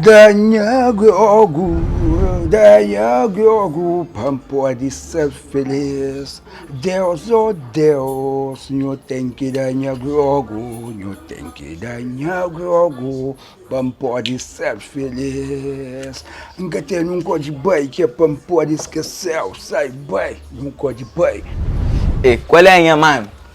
Da nha giogu, da nha giogu Pa N pode ser feliz Deus, oh Deus Nho ten ki da nha giogu, nho ten ki da nha giogu Pa N pode ser feliz N ka tene un kóde bai ki é pa N pode skeseu Sai bai, un kóde bai. Ê, kual é nha mame?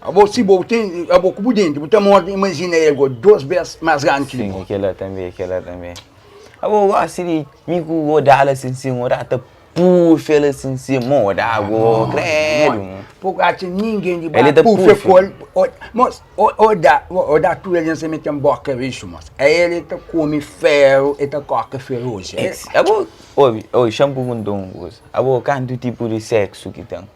Abo si bo ten abo ku bu denti bu ta morde imajina el go dos bes mas grandi ki di bo. Sim e kel la tanbe e kel la tanbe abo gosi di mi ku odal asin sim odal ta pufel asin sim mo odal go kredu. Bo ka atxa ningen di ba pufe ku el mos odal odal tudu algen sa mete boka rixu mos ai el e ta kome feru e ta koka feruji abo obi obi xan purgunta un kuza abo kantu tipu di seksu ki ten.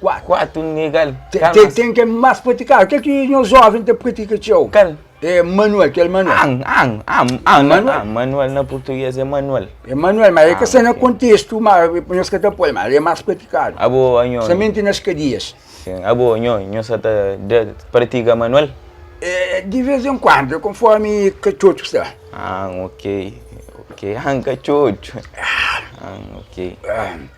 4. 4 negal kal mas. Ten kel mas pratikadu, kel ki nhos joven ta pratika txeu. Kal? É manual, kel manual. An, an, an, an, manual. an, manual na purtuges é manual. É manual, mas é ka sta na kontestu, mas nhos ka ta poi, mas é mas pratikadu. Abo, nho. Samenti na skadias. Sin, abo, nho, nho sa ta da pratika manual? É, di vez en kuandu, é konformi katxotxu sta. An, ok, ok, an katxotxu. An, ok.